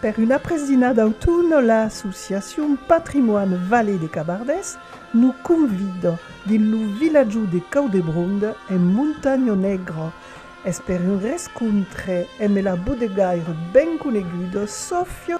Per una presina d'autun, l'associacion Patrimoine Vallée de Cabardés nos convida dins lo vilatjau de Caudebronde, en Montanha Negra. Es per un rescontre emb la bodegaire ben coneguda Sofia.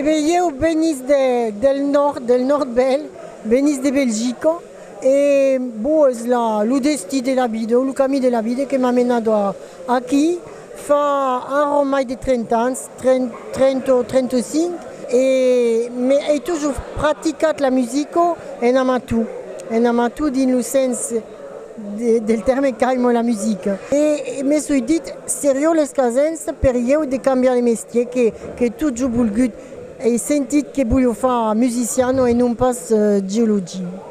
E ben ieu venis del nòrd, del nòrd bèl, venis de Belgica e bon es lo destí de la vida o lo camí de la vida que m'a menat aquí fa arran mai de 30 ans. 30 o 35 e me ei tojo practicat la musico en amatou, en amatou dins lo sens del tèrme qu'aimo la musica e me soi dit serió los casens per ieu de cambiar de mestier que qu'ei tojo bolgut, ei sentit que bolho far musiciano e non pas geologi.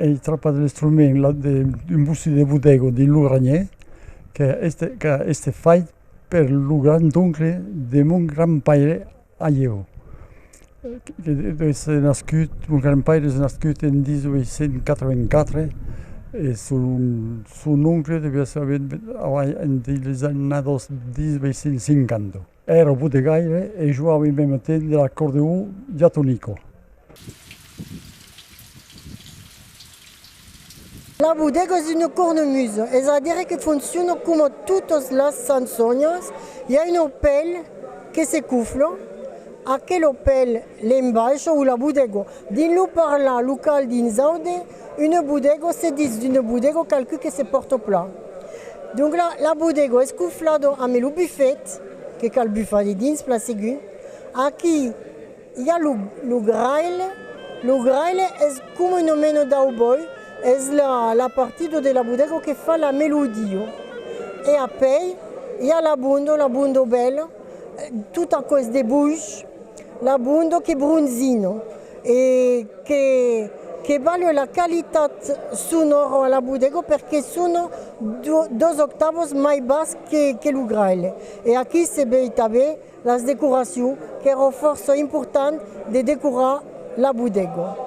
Ei trapa de l'instrument la de un bocí de bodego dins lo granhè que qu'a èster fait per lo grandoncle de mon grandpaire Aieau. Qu'es nascut, mon grandpaire es nascut en 1884 e son oncle deviá èster avèt en deis annados 1850. Èra au botegaire e joava en meme temps de l'acordeon diatonico. La bodega es una cornemuse, es a dire que fonciona coma totas las sançonhas, i a un opèl que se cufla, aquel opèl, l'embaisha o la bodega. Dins lo parlar local dins Aude, Une bodego se ditz d'une bodego qualqui que se pòrte au plat. Donc la la bodego es coflado ame lo bufet que cal bufar de dins plan segur. Aquí i a lo lo graile, lo graile es coma una mena d'auboi, es la la partida de la bodego que fa la melodia. E apèi i a la bondo, la bondo bèla, tot aquò es de bush, la bondo que bronzina. e que que balhe la qualitat son oro a la bodega perque son dos octavos mai bas que que lo graelhe e aquí se bèi tabé las decoracion qu'èro fòrça important de decorar la bodega.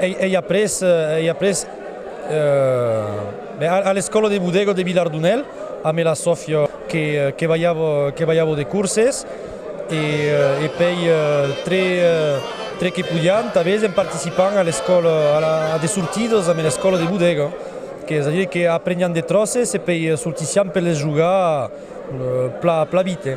Ei après a l'escòla de bodega de Vilardunèl amé la Sòfia que balhavo de corses e pei tre que podiam tanben en participam a de sortidas amé l'escòla de bodega qu'es a dire que apreniam de tròces e pei sortissiam per les jogar pla vite.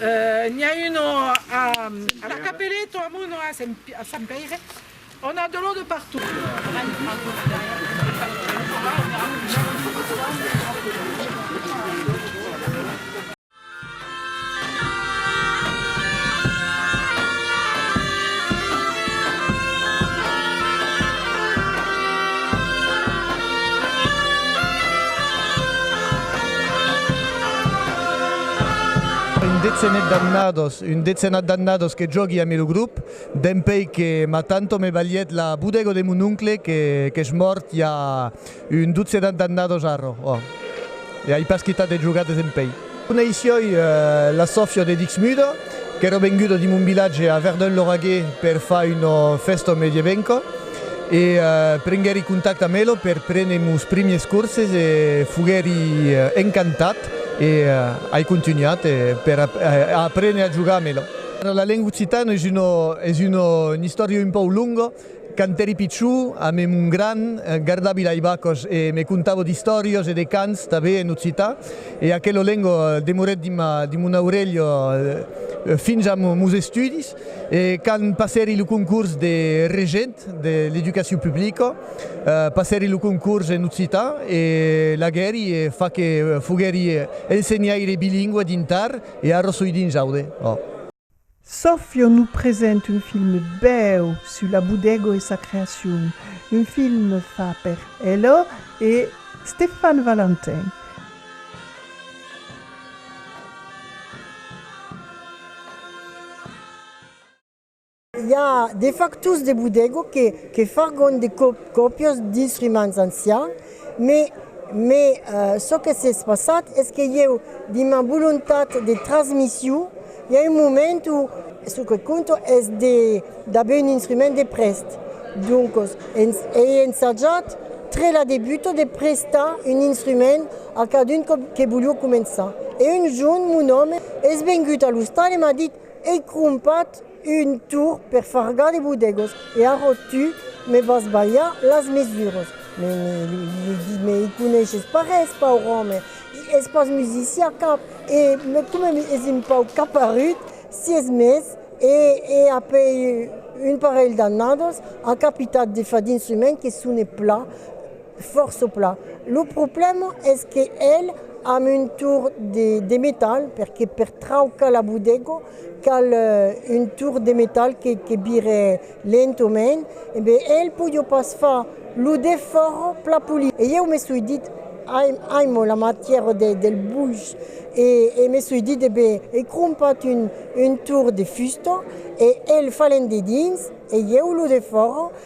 N'i a un a la Capeleta, a Mono, a Sant Pèire, on a de l'or de partout. Un dezenet d'annados, un dezenat d'annados que jògui amé lo grop, dempèi que ma tanto me balhèt la bodèga de mon oncle que qu'es mòrt i a un dotzenat d'annados arro, ò, e ai pas quitat de jogar desempèi. Coneissioi la Sòfia de Dixmude, qu'èra venguda di mon vilatge a Verdun-Lauragais per far una fèsta medievenca. E prenguèri contact amb elo per prene mos primiers corses e foguèri encantat e ai contunhat per a aprene a jogar amb elo. La lenga occitana es una istòria un pauc longa. Quand èri pichon, a me mon gran, gardavi lai vacas e me contava d'istòrias e de cants tanben en occitan e aquela lenga demorèt dins mon aurelha fins a mos estudis. E quand passèri lo concurs de regent de l'educacion publica, passèri lo concurs en occitan e laguèri e fa que foguèri ensenhaire bilingüe dins Tar e a Rossoï dins Aude. Sofio nos present un film bèu sus la Bodego e sa creacion, un film fa per Elo e Stefan Valentin. I a de factors de bodega que fargon de còpias d'instruments ancians, me çò que s'es passat es que ieu, dins ma volontat de transmission, i a un moment o çò que compta es d'aver un instrument de prèst. Doncas, ei ensajat tre la debuta de prestar un instrument A cadun que volió començar. E un jorn mon òme es vengut a l'ostal e m'a dit, Ei crompat un torr per fargar de bodegos e arrò tu me vas balhar las mesuras. Me li dit, Me i coneishes pas res, paur òme, es pas musician cap e coma es un pauc caparut, sies mes e a pei un parelh d'annadas a capitat de fa dins un men que sone pla. Fòrt sopla. Lo problèma es que el amb un tour de metal, perque per traucar la bodega cal un tour de metal que vire lentomain, e ben el podió pas far lo defòrt pla polir. E ieu me soi dit, aimo la matièra del buch, e me soi dit, e ben ei crompat un tour de fusta e el falent dedins e ieu lo defòro.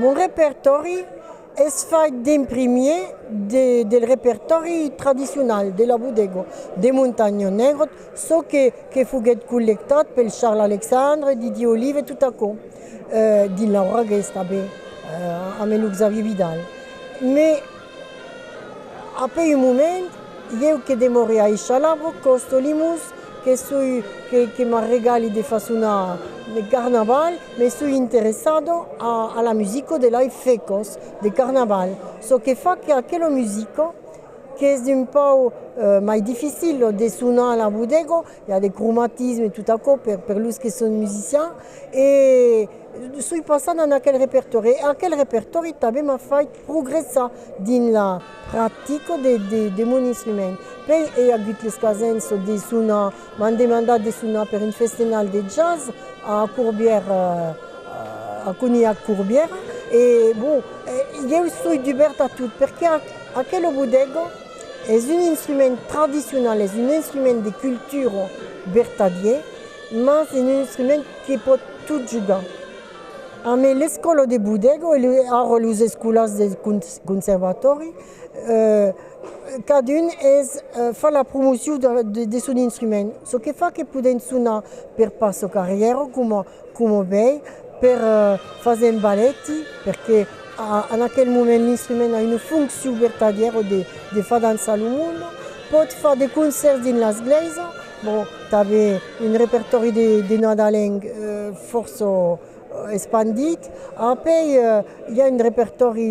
Mon repertòri es fait d'en primier del repertòri tradicional de la bodega de Montanha Negra, çò que foguèt collectat pel Charles Alexandre, Didier Olive e tot aquò, dins Laura Guest tanben, amb lo Xavier Vidal. Apé un moment, ieu que demore a Echalavo, còsto Limús, que soi que m'a regali de fasona de carnaval, me soi interessado a la musico de lai fècos de carnaval. Çò que fa que aquelo musico qu'es un pau mai dificilo de sonar a la bodego, I a de cromatisme e tot aquò per per los que son musicians e soi passat en aquel repertòri e aquel repertòri tanben m'a fait progressar dins la practica de de de mon instrument. Puèi ei agut l'escasenç çò de sonar, m'an demandat de sonar per un festenal de jazz a Corbièra a Conilhac Corbièra e bon, ieu soi dubèrt a tot perqué aquela bodega, Es un instrument tradicional, es un instrument de cultura vertadier, mas es un instrument que pòt tot jogar. Amé l'Escòla de Bodego e ara los escolans de conservatòri, cadun es fa la promocion de son instrument, çò que fa que poden sonar per pas çò qu'arrièron coma. coma bèi per faser un balèti, perque en aquel moment l'instrument a una foncion vertadièra de far dançar lo monde, pòt far de concèrts dins las glèisas, bon, tanben un repertòri de nadalenc fòrça espandit, apèi i a un repertòri.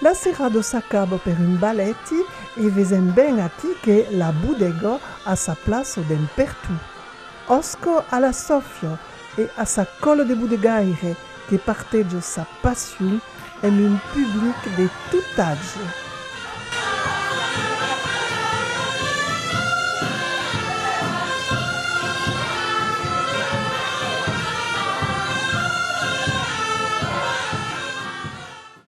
La serrada s'acaba per un baleti e vesèm ben aquí que la bodega a sa plaça dens pertot. Òsca a la Sòfia e a sa còla de bodegaire que parteja sa passion amb un public de tot atge.